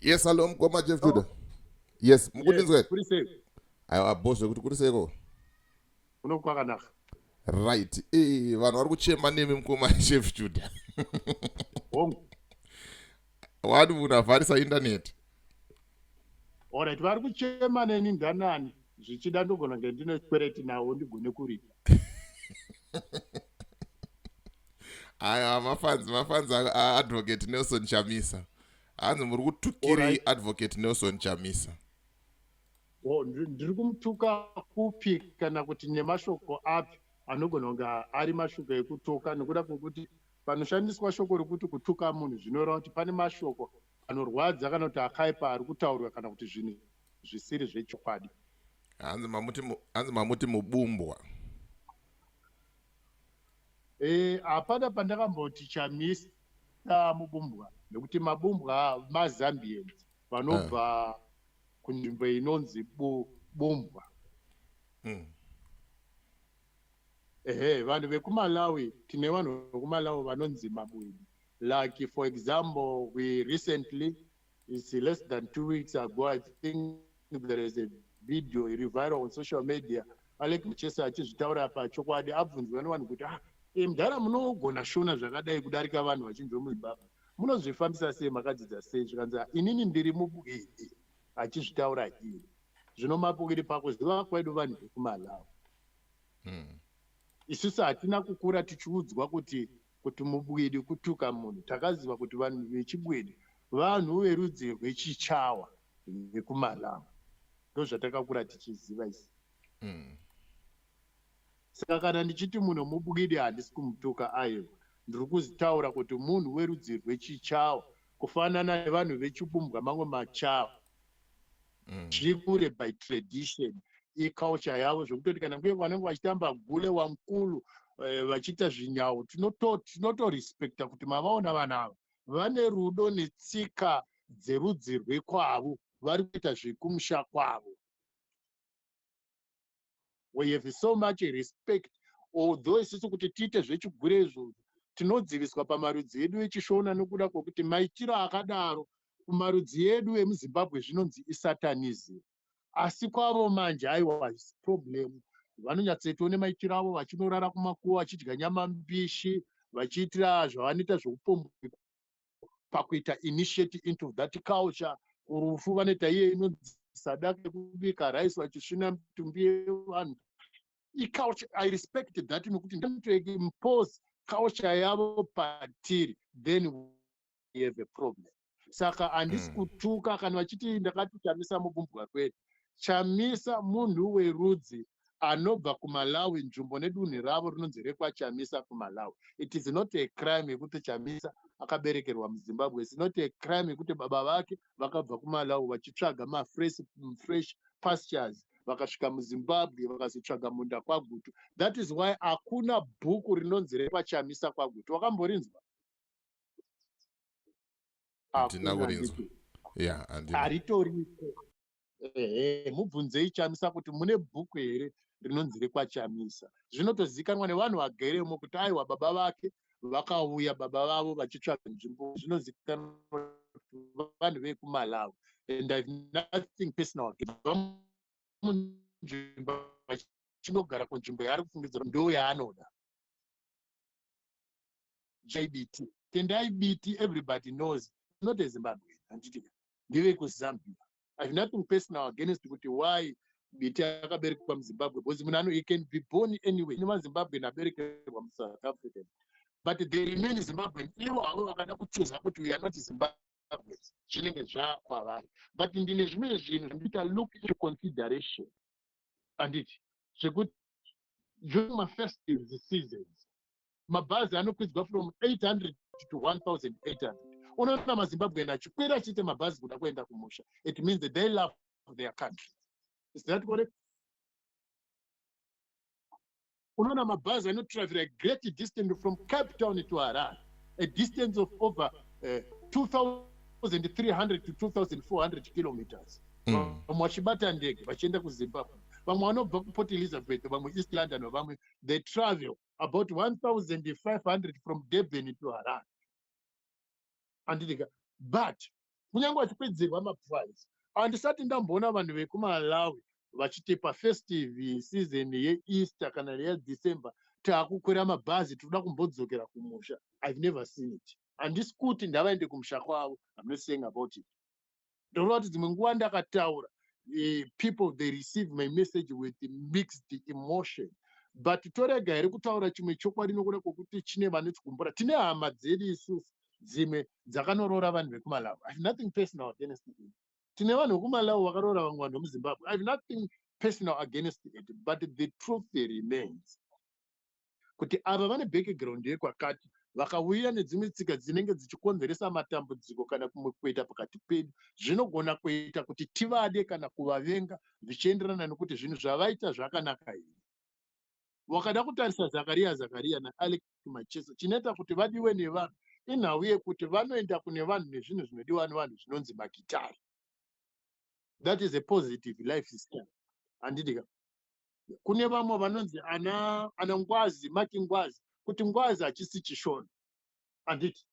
yes hallo mukoma jeff juda yes mukundinzwa kuri sei aiwa bo zvekuti kuri seiko kuno kwakanaka right eh, vanhu vari kuchema nemi mukoma jeff juda hongu wani munhu avharisa intaneti orit vari kuchema neni ndanani zvichida ndogona nge ndine kwereti nawo ndigone kuripa aya mafanzi mafanzi aadvocate nelson chamisa hanzi muri kutukirei advocate nelson chamisa oh, ndiri kumutuka kupi kana kuti nemashoko api anogona kunge ari mashoko ekutuka nokuda kwekuti panoshandiswa shoko rekuti kutuka munhu zvinoreva kuti pane mashoko anorwadza kana kuti akaipa ari kutaurwa kana kuti zvinhu zvisiri zvechokwadi hanzi mamuti mubumbwa Eh, hapana pandakamboti chamisa mubumbwa nekuti mabumbwa mazambians vanobva ah. kunzvimbo inonzi bumbwa hmm. ehe vanhu vekumalawi tine vanhu vekumalawi vanonzi mabwidi like for example we recently It's less than two weeks ago, I think there is a video iri viral on social media. Alec Machesa achizvitaura apa chokwadi abvunzwa nevanhu kuti ah, e, mdhara munogona shona zvakadai kudarika vanhu vachinzwa muzimbabwe munozvifambisa sei makadzidza sei zvikanzi ah, inini ndiri mubuii achizvitaura iri zvino mapukiri pakuziva kwedu vanhu vekumalawi hmm. isusu hatina kukura tichiudzwa kuti kuti mubwidi kutuka munhu takaziva kuti vanhu vechibwidi vanhu verudzi rwechichawa vekumalamu ndozvatakakura tichiziva isi mm. saka kana ndichiti munhu mubwidi handisi kumutuka aiwa ndiri kuzitaura kuti munhu werudzi rwechichawa kufanana nevanhu vechibumbwa mamwe machawa mm. zviri kure by tradition iculture yavo zvekutoti kana kuye vanenge vachitamba gule wamkulu eh, vachiita zvinyawo tinotorespecta kuti mavaona vana ava vane rudo netsika dzerudzi rwekwavo vari kuita zvekumusha kwavo we have so much respect although isusu kuti tiite zvechigure izvozvo tinodziviswa pamarudzi edu echishona nokuda kwokuti maitiro akadaro kumarudzi edu emuzimbabwe zvinonzi isatanism asi kwavo manje aiwa hazvisi problem vanonyatsoitawo nemaitiro avo vachinorara kumakuva vachidya nyama mbishi vachiitira zvavanoita zveupombwe pakuita initiate into that culture kurufu vanoita iye inonzi sadaka yekubika rice vachisvina mitumbi yevanhu iculture i respect that nekuti ndatoimpose culture yavo patiri then we have a problem saka handisi mm. kutuka kana vachiti ndakati chamisa mubumbwa kwedu chamisa munhu werudzi anobva kumalawi nzvimbo nedunhu ravo rinonzi rekwachamisa kumalawi it is not a crime yekuti chamisa akaberekerwa muzimbabwe is not a crime yekuti baba vake vakabva kumalawi vachitsvaga mafresh fresh pastures vakasvika muzimbabwe vakazotsvaga munda kwagutu that is why hakuna bhuku rinonzi rekwachamisa kwagutu wakamborinzwa handina kurinzwa yeah, handitoripo ehe mubvunzei chamisa kuti mune bhuku here rinonzi rekwachamisa zvinotozikanwa nevanhu vageremo kuti aiwa baba vake vakauya baba vavo vachitsvaga nzvimbo zvinozikanwa vanhu vekumalawi and ive nothing personal munzvimbo vachinogara kunzvimbo yaari kufungidzira ndo yaanoda jbt tendai biti everybody knows not ezimbabwe handiti ndiri kuzambia i have nothing personal against kuti why biti akaberekwa muzimbabwe because munhu ano he can be born anyway ine mazimbabwen aberekerwa musouth african but they remain zimbabwen ivo havo vakada kuchuza kuti we are not zimbabwe zvinenge zvakwavari but ndine zvimwe zvinhu zvandita look into consideration anditi zvekuti during mafestive seasons mabhazi anokwidzwa from 800 to 1800 unoona mazimbabwean achikwira achiita mabhazi kuda kuenda kumusha it means that they love their country is that correct unoona mabhazi anotravera a great distance from cape town to harar a distance of over uh, eh, 2300 to 2400 kilometers vamwe mm. vachibata ndege vachienda kuzimbabwe vamwe vanobva kuport elizabeth vamwe east london vamwe they travel about 1500 from durban to haran anditika but kunyange vachipedzerwa maprice handisati ndamboona vanhu vekumalawi vachitepa festive season yeeaster kana yedecember taakukwira mabhazi tinoda kumbodzokera kumusha ive never seen it handisi kuti ndavaende kumusha kwavo amnot saying about it Ndinoona kuti dzimwe nguva ndakataura eh, people they receive my message with mixed emotion but torega here kutaura chimwe chokwadi nokuda kwokuti chine vanotigumbura tine hama dzedu isusu dzimwe dzakanoroora vanhu vekumalawi i have nothing personal against it tine vanhu vekumalawi vakaroora vamwe vanhu vemuzimbabwe i have nothing personal against it but the truth remains kuti ava vane background yekwakati vakauya nedzimwe tsika dzinenge dzichikonzeresa matambudziko kana kumwe kuita pakati pedu zvinogona kuita kuti tivade kana kuvavenga zvichienderana nekuti zvinhu zvavaita zvakanaka here wakada kutarisa zakariya zakariya naalek machesa chinoita kuti vadiwe nevanhu inhau yekuti vanoenda kune vanhu nezvinhu zvinodiwa nevanhu zvinonzi magitari that is a positive life system handidika kune vamwe vanonzi ana ana ngwazi mati ngwazi kuti ngwazi hachisi chishona handiti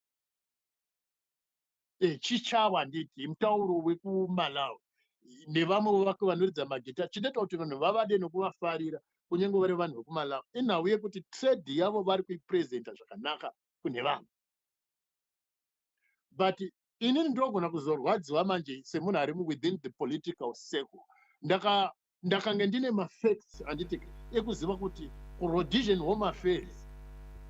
e, eh, chichava handiti mutauro wekumalawi nevamwe vake vanoridza magita chinoita kuti vanhu vavade nokuvafarira kunyange vari vanhu vekumalawi inhau yekuti trade yavo vari kuipresenta zvakanaka kune vanhu but inini ndogona kuzorwadziwa manje semunhu ari within the political circle ndaka ndakange ndine mafacts anditi ekuziva kuti kurodision home affairs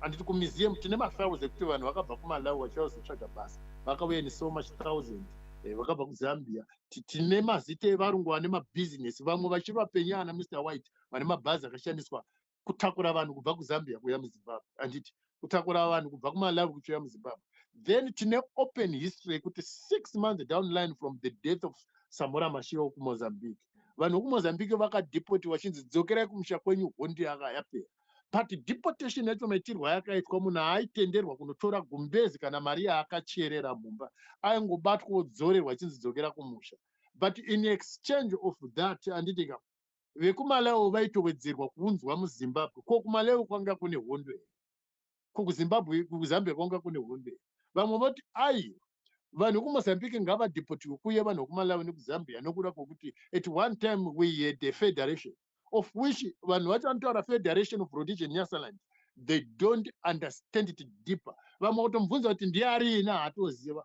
anditi kumuseum tine mafiles ekuti vanhu vakabva kumalawi vachiva kuzotsvaga basa vakauya ni so much thousand eh, vakabva kuzambia tine mazita evarungu vane mabhizinesi vamwe vachiri vapenyu ana mr white vane mabhazi akashandiswa kutakura vanhu kubva kuzambia kuya muzimbabwe anditi kutakura vanhu kubva kumalawi kuchiuya muzimbabwe then tine open history yekuti six months down line from the death of samora mashira wokumozambique vanhu vokumozambique vakadepoti vachinzi dzokerai kumusha kwenyu hondi yaka yapera but deportation yacho maitirwa yakaitwa munhu aitenderwa kunotora gumbezi kana mari yaakacherera mumba aingobatwa odzorerwa achinzi dzokera kumusha but in exchange of that anditika vekumalawi vaitowedzerwa kuunzwa muzimbabwe ko kumalawi kwanga kune hondo here ko kuzimbabwe kuzambia kwanga kune hondo here vamwe voti ai vanhu kumozambique ngavadhipotiwe kuye vanhu vekumalawi nekuzambia nokuda kwokuti at one time we had a federation of which vanhu vacho vanotaura federation of rhodesia nyasaland they don't understand it deeper vamwe kutomubvunza kuti ndiye ariina haatoziva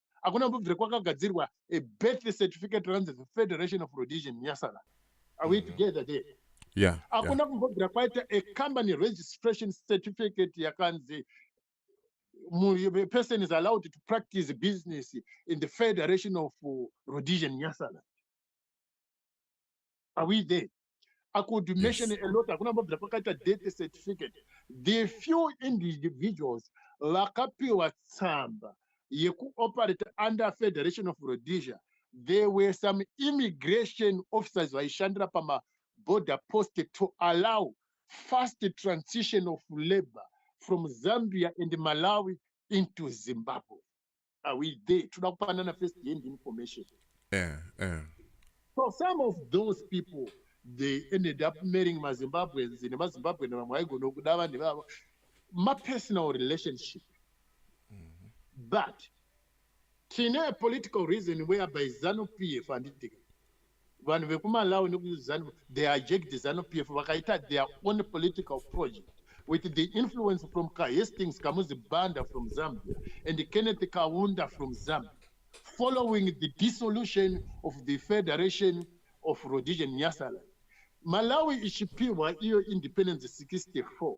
hakuna mbobvire kwakagadzirwa a birth certificate runs the federation of rhodesian nyasara are we mm. together there yeah hakuna kumbobvira kwaita a company registration certificate yakanzi a person is allowed to practice business in the federation of uh, rhodesian nyasara are we there I could mention yes. a lot hakuna mbabvira pakaita death certificate the few individuals vakapiwa tsamba yekuoperate under federation of rhodesia there were some immigration officers vaishandira pamaborder post to allow fast transition of labor from zambia and malawi into zimbabwe are we there toda kupanana first hand information yeah, yeah. so some of those people they ended up marrying mazimbabweans nemazimbabwe nevamwe aigona kuda vanhu ivavo mapersonal relationship mm-hmm. but tine political reason whereby zanu p f handidika vanhu vekumalawi nekuzanu they aject zanu p f vakaita their own political project with the influence from kahastings kamuzi banda from zambia and kenneth kaunda from zambia following the dissolution of the federation of rhodigian nyasaland malawi ichipihwa iyo independence 64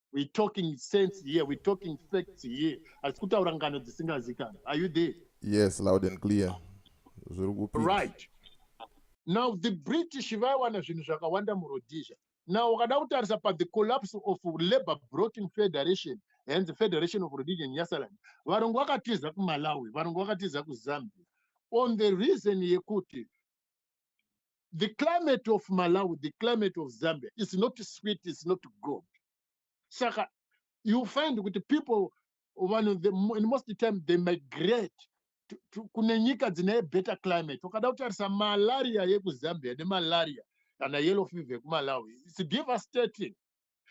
we talking sense here we talking facts here asi kutaura ngano dzisingazikani are you there yes loud and clear zviri kupi right now the british vaiwana zvinhu zvakawanda murodisia now ukada kutarisa pathe collapse of labour broking federation and the federation of rhodesia nyasaland varungu vakatiza kumalawi varungu vakatiza kuzambia on the reason yekuti the climate of malawi the climate of zambia is not sweet is not good saka you find kuti people vanhu in most time they migrate kune nyika dzine better climate ukada kutarisa malaria yekuzambia nemalaria kana yellow fever yekumalawi its devastating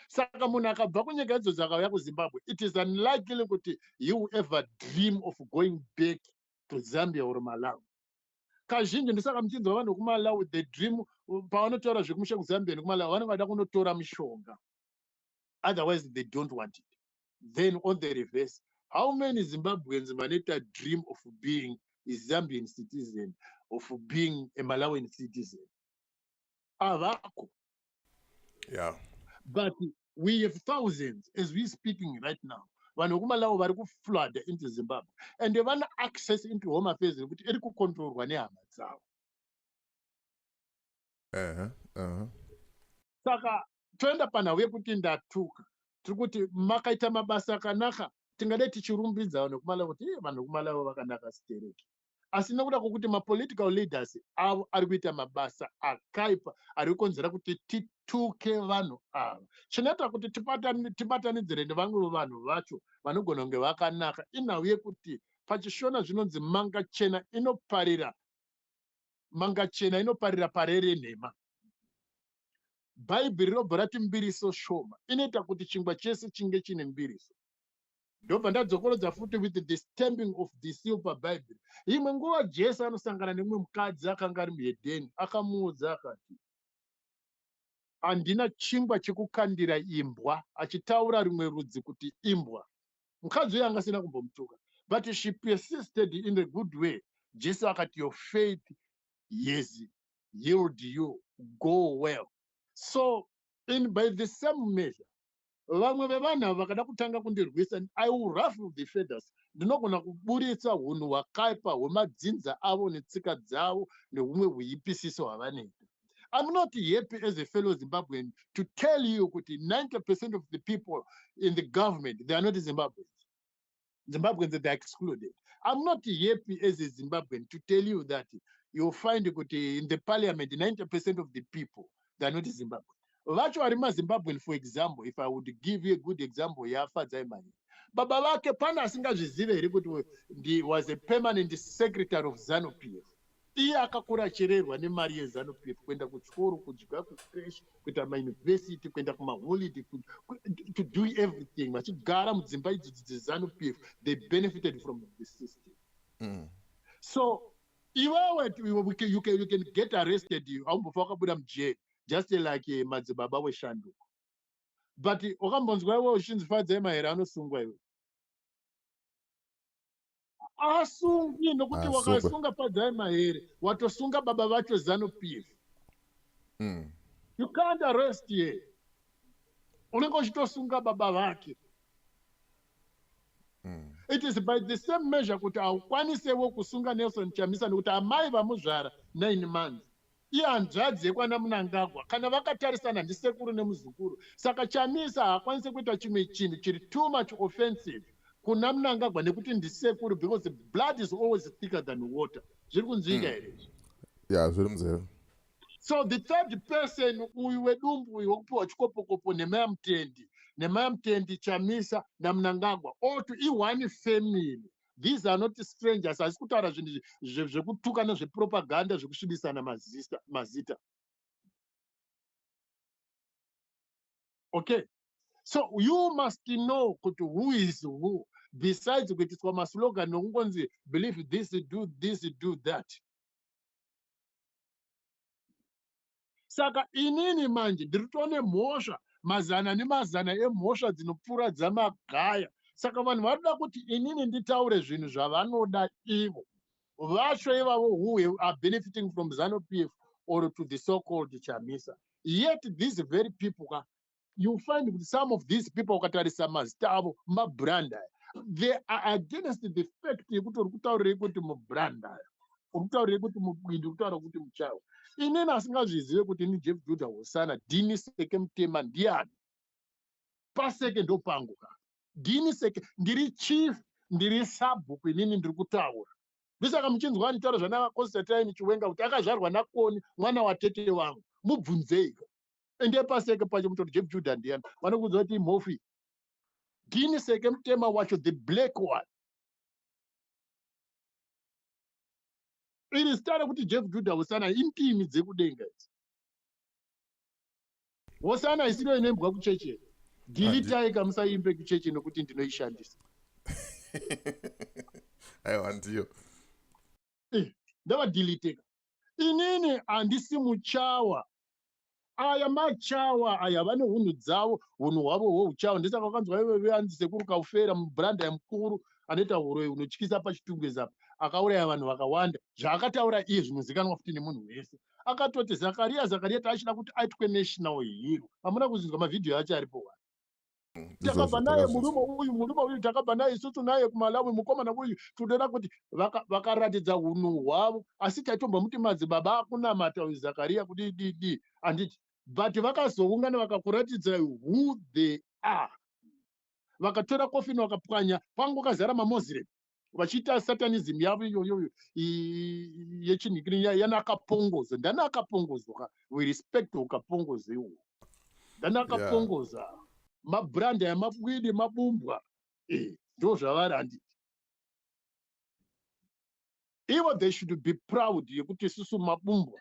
saka munhu akabva kunyika idzo dzakauya kuzimbabwe it is unlikely kuti he will ever dream of going back to zambia or malawi kazhinji ndisaka muchinzwa vanhu vekumalawi the dream pavanotaura zvekumusha kuzambia nekumalawi vanenge vada kunotora mishonga otherwise they don't want it then on the reverse how many zimbabweans vanoita dream of being a zambian citizen of being a malawian citizen avako yeah. but we have thousands as we speaking right now vanhu vekumalawi vari kuflooda into zimbabwe and vana access into home affairs rekuti iri kucontrolwa nehama dzavo uh-huh, uh-huh. saka toenda panhau yekuti ndatuka tiri kuti makaita mabasa akanaka tingadai tichirumbidza vanhu vekumalawi kuti iye vanhu vekumalawi vakanaka stereki asi nekuda kwokuti mapolitical leaders avo ari kuita mabasa akaipa ari kukonzera kuti tituke vanhu ava chinoita kuti tibatanidzire nevamwevo vanhu vacho vanogona kunge vakanaka inhau yekuti pachishona zvinonzi manga chena inoparira manga chena inoparira pare renhema bhaibheri rinobva rati mbiriso shoma inoita kuti chingwa chese chinge chine mbiriso ndobva ndadzokorodza futi with the stamping of the seal pabhaibheri imwe nguva jesu anosangana nemumwe mukadzi akanga ari muhedheni akamuudza akati handina chingwa chekukandira imbwa achitaura rimwe rudzi kuti imbwa mukadzi uyo anga asina kumbomutuka but she persisted in a good way jesu akati your faith yes yield you go well so In by the same measure, vamwe vevanhu ava vakada kutanga kundirwisa, I will ruffle the feathers. Ndinogona kuburitsa hunhu hwakaipa hwemadzinza avo netsika dzavo nehumwe huipisiso hwavanoita. I'm not happy as a fellow Zimbabwean to tell you kuti 90% of the people in the government, they are not Zimbabweans. Zimbabweans they are excluded. I'm not happy as a Zimbabwean to tell you that you'll find kuti in the parliament 90% of the people they're not Zimbabwean. Vacho vari maZimbabwean for example if I would give you a good example yaFadzai Mahinga. Baba vake pana asingazvizive here kuti was a permanent secretary of ZANU PF. iye akakura achererwa nemari yezanu pf kuenda kuchikoro kudya kucresh kuita mauniversity kuenda kumaholiday to do everything vachigara mudzimba idzodzi dzezanu pf they benefited from the system mm. so iwewe you can get arrested haumbofa wakabuda mujeri just like eh, madzibaba weshanduko but wakambonzwa iwe uchinzi fadzai mahere anosungwa iwe asungi nokuti ah, wakasunga padzai mahere watosunga baba vacho zanu pif mm. you can't arrest ye unenge uchitosunga baba vake mm. it is by the same measure kuti haukwanisewo kusunga nelson chamisa nokuti amai vamuzvara nine months Ihanzvadzi yekwana Mnangagwa kana vakatarisana ndisekuru nemuzukuru saka Chamisa haakwanise kuita chimwe chinhu chiri too much offensive kuna Mnangagwa nekuti ndisekuru because blood is always thicker than water. Zviri kunzwika hmm. here izvi? Ya, zviri munzeve. So the third person uyu wedumbu uyu wekupiwa chikopokopo nhema yaMutendi, nhema yaMutendi, Chamisa naMnangagwa all to ione family these are not strangers asi kutaura zvinhu zvekutuka nezvepropaganda zvekusvibisana mazita okay so you must know kuti who is who besides kuitiswa maslogan nokungonzi believe this do this do that saka inini manje ndiri tone mhosva mazana nemazana emhosva dzinopfuura dzamagaya saka vanhu vanoda kuti inini nditaure zvinhu zvavanoda ivo vacho ivavo who are benefiting from zanu pf or to the so called chamisa yet these very people ka you find kuti some of these people ukatarisa mazita avo mabrand aya they are against the fact yekuti uri kutaurirei kuti mubrand aya uri kutaurirei kuti mubwindi uri kutaura kuti muchawa inini asingazvizive kuti ini jeff juda hosana dini seke mutema ndiani paseke ndopangu ka dini seke ndiri chief ndiri sabhuku inini ndiri kutaura ndosaka muchinzwa anitaura zvana constantine chiwenga kuti akazvarwa nakoni mwana watete wangu mubvunzeiko ende paseke pacho mutori jebjuda ndiyani vanokuudza kuti imhofu iyi ndini seke mutema wacho the black one iri zita rekuti jeff juda hosana intimi dzekudenga idzi hosana isiro inoimbwa kucheche dilitai kamusaimbe kucheche nekuti ndinoishandisa aiwa ndiyo eh, ndavadiliteka inini handisi muchawa aya machawa aya vane hunhu dzavo hunhu hwavo hweuchawa ndisaka vakanzwa ive veanzi sekuru kaufera mubranda yamukuru anoita huroyi unotyisa pachitungwezapo akauraya vanhu vakawanda zvaakataura iye zvinozikanwa futi nemunhu wese akatoti zakariya zakariya taachida kuti aitwe national hero hamuna kuzinzwa mavhidhiyo acho aripo wani takabva naye murume uyu murume uyu takabva naye isusu naye kumalawi mukomana uyu tinoda kuti vakaratidza vaka hunhu hwavo asi taitombwa muti madzibaba akunamata uyu zakariya kuti didi handiti but vakazoungana vakakuratidza who they are vakatora kofini vakapwanya kwangu kazara mamoslem vachiita satanism yavo iyoyo yechinhu ikini yana akapongoza ndani akapongoza we respect ukapongoza iwo ndani akapongoza yeah. mabrand aya mabwidi mabumbwa eh, ndo e, zvavari handi ivo they should be proud yekuti isusu mabumbwa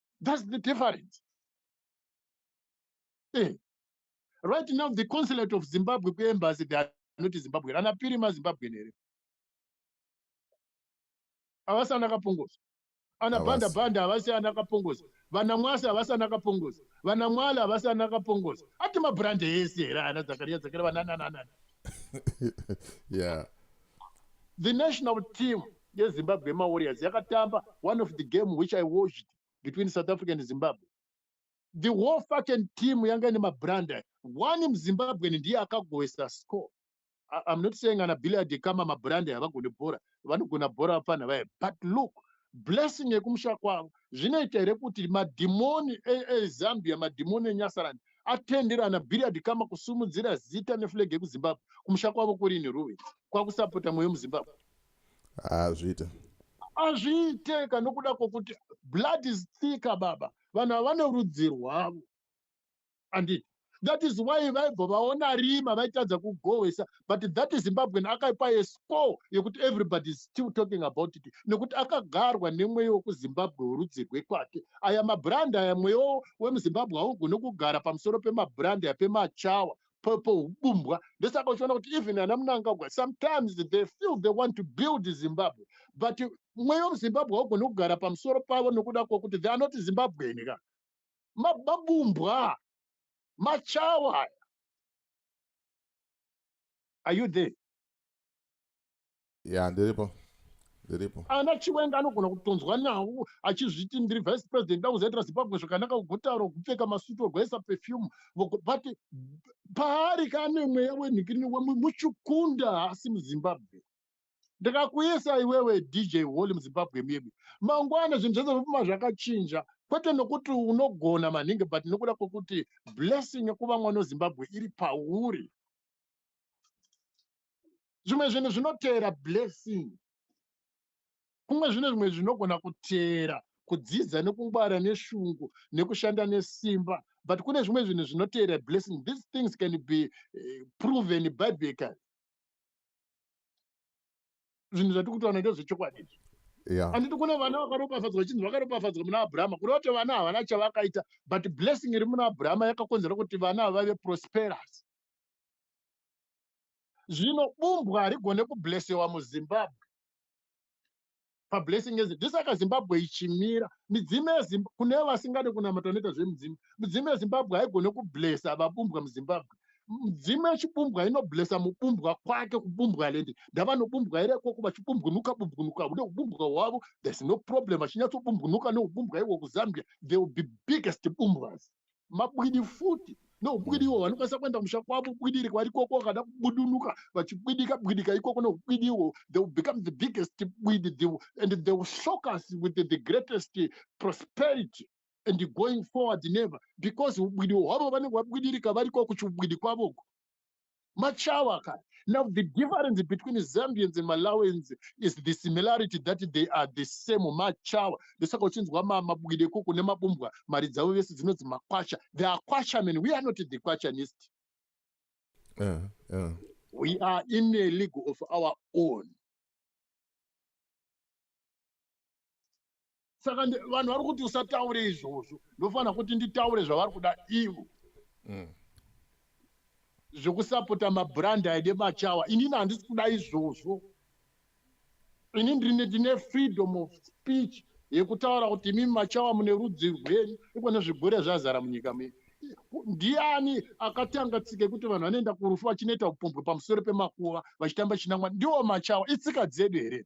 That's the difference. Hey. Eh. Right now, the consulate of Zimbabwe embassy, they are not Zimbabwe. Rana Pirima Zimbabwe. Avasa Nakapungus. Ana Banda Banda, Avasa Nakapungus. Vana Mwasa, Avasa Nakapungus. Vana Mwala, Avasa Nakapungus. Atima brand is here. Ana Zakaria, Zakaria, Nana, Nana. Yeah. The national team yezimbabwe mawarriors yakatamba one of the game which i watched between south africa and zimbabwe the whole fucking team yanga ine mabranda one muzimbabwen ndiye akagoesa score i'm not saying ana billiard kama mabranda havagone bhora vanogona bhora vapfanha vaye but look blessing yekumusha kwavo zvinoita here kuti madhimoni ezambia e, e madhimoni enyasarani atendera ana billiard kama kusumudzira zita neflag yekuzimbabwe kumusha kwavo kurini ruve kwakusapota mweyo muzimbabwe hazviite hazviite ka nokuda kwokuti blood is thicker baba vanhu ava vane rudzi rwavo anditi that is why vaibva vaona rima vaitadza kugohwesa but that is zimbabwean akaipa yescore yekuti everybody is still talking about it nekuti akagarwa nemweya wekuzimbabwe werudzi rwekwake aya mabrand aya mweya wemuzimbabwe haugone kugara pamusoro pemabrand aya pemachawa pohubumbwa ndosaka uchiona kuti even ana munangagwa sometimes they feel they want to build zimbabwe but mweya wemuzimbabwe haugoni kugara pamusoro pavo nokuda kwokuti they are not zimbabweni ka mabumbwa machawa aya are you there ya ndiripo ndiripo ana chiwenga anogona kutonzwa nhau achizviti ndiri vice president dakuzaitira zimbabwe zvakanaka kugotaro kupfeka masuti ogoisa perfume but paari kaane mweya wenhikirino wemwe muchukunda haasi muzimbabwe ndikakuisa iwewe dj holy muzimbabwe medu mangwana zvinhu zvese zvopfuma zvakachinja kwete nokuti unogona manhingi but nokuda kwokuti blessing yekuva mwana wezimbabwe iri pauri zvimwe zvinhu zvinoteera blessing kumwe zvine zvimwe zvinogona kuteera kudzidza nekungwara neshungu nekushanda nesimba but kune zvimwe zvinhu zvinoteera blessing these things can be eh, proven biblical zvinhu zvatiri kutaura ndezvechokwadi izvi handiti kune vana vakaropafadzwa vachinzi vakaropafadzwa muna abrahama kureva kuti vana havana chavakaita but blessing iri muna abrahama yakakonzera kuti vana vave prosperous zvino bumbwa harigone kublesewa muzimbabwe pablessing ezi ndisaka zimbabwe ichimira midzimu yezimbabwe kune vasingade kunamata vanoita zvemudzimu midzimu yezimbabwe haigone kublesa vabumbwa muzimbabwe midzimu yechibumbwa inoblesa mubumbwa kwake kubumbwa lendi ndavanobumbwa here ikoko vachibumbwinuka bumbwinuka une ubumbwa hwavo there's no problem vachinyatsobumbwinuka neubumbwa iwo kuzambia they will be biggest bumbwas mabwidi futi noubwidi iwo vanokwanisa kuenda musha kwavo bwidi iri kwari koko vakada kubudunuka vachibwidika bwidika ikoko noubwidi iwo they will become the biggest bwidi the, and they will shock us with the, the greatest prosperity and going forward never because ubwidi hwavo vanenge vabwidirika variko kuchiubwidi kwavoko machawa ka now the difference between zambians and malawians is the similarity that they are the same machawa ndosaka uchinzwa mabwide koko nemabumbwa mari dzavo vese dzinonzi makwasha the are kwashamen we are not the kwashanist uh, eh, uh. Eh. we are in a league of our own saka vanhu vari kuti usataure izvozvo ndofanira kuti nditaure zvavari kuda ivo mm. zvekusapota mabrand aide machawa inini handisi kuda izvozvo ini ndine ndine freedom of speech yekutaura kuti imimi machawa mune rudzi rwenyu iko nezvigure zvazara munyika medu ndiani akatanga tsika yekuti vanhu vanoenda kurufu vachinoita upombwe pamusoro pemakuva vachitamba chinamwa ndiwo machawa itsika dzedu here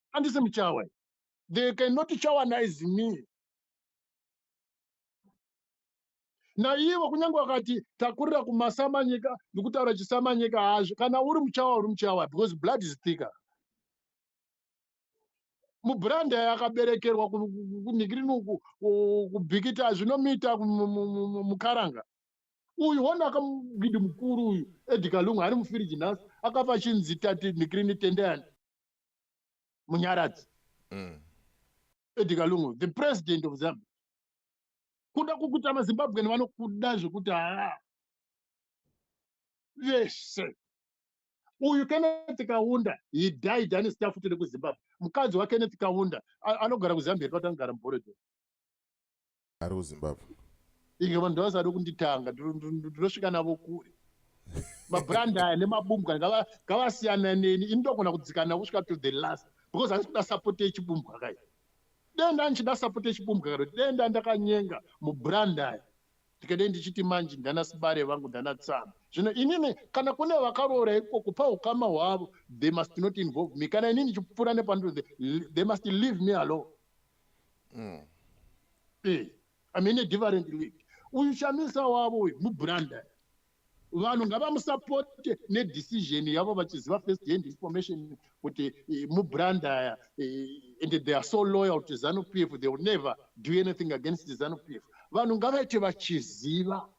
andisi muchawa they cannot chawanize me naivo kunyange wakati takurira kumasamanyika ndikutaura chisamanyika hazvo kana uri muchawa uri muchawa because blood is thicker mubranda yakaberekerwa kunhikirini uku kubhikita zvinomuita mukaranga uyu wona akamugidi mukuru uyu edika lungu ari mufiriji nhasi akafa chinzi tati nhikirini tendeyani munyaradzi mm. edi kalungu the president of zimbabwe kuda kukuta mazimbabwen vanokuda zvekuti haa vese uyu kenneth kaunda he died ane staff tiri kuzimbabwe mukadzi wakenneth kaunda anogara kuzambia patanogara muboredo ari kuzimbabwe inge vanhu ndavasada kunditanga ndinosvika navo kure mabrand aya nemabumbwa ngavasiyana neni ini ndogona kudzikana kusvika to the last because handisi kuda support yechibumbwa kai dei ndandichida support yechibumbwa karo dei ndandakanyenga mubrand aya ndikadei ndichiti manje ndana sibare vangu ndana tsama zvino inini kana kune vakaroora ikoko pa ukama hwavo they must not involve me kana inini ndichipfuura nepandoo they must leave me alone mm. eh, i mean a different league uyu shamisa wavo uyu mubranda vanhu ngavamusapote nedecision yavo vachiziva first hand information kuti eh, mubranda eh, and they are so loyal to zanu p f they will never do anything against zanu p f vanhu ngavaite vachiziva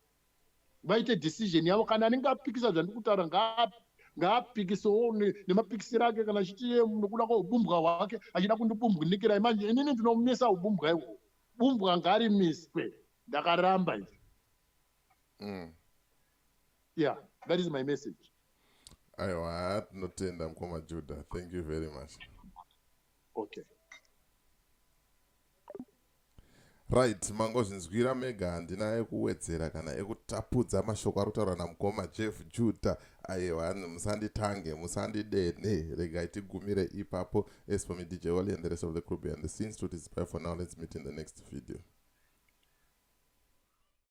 vaite decision yavo kana anenge apikisa zvandiri kutaura ngaapikisewo nemapikisiro ake kana achiti nokuda kwaubumbwa hwake achida kundibumbwinikirai manje inini ndinomisa ubumbwa iwo bumbwa ngarimiswe ndakaramba izvo mm. yeah that is my message aiwa haa tinotenda mukoma juda thank you very much okay Right, mangozvinzwira mega handina ekuwedzera kana ekutapudza mashoko ari kutaurwa namukoma Jeff Judah ayewa musanditange musandidene regai tigumire ipapo as for me DJ Wally and the rest of the crew behind the scenes to display for now let's meet in the next video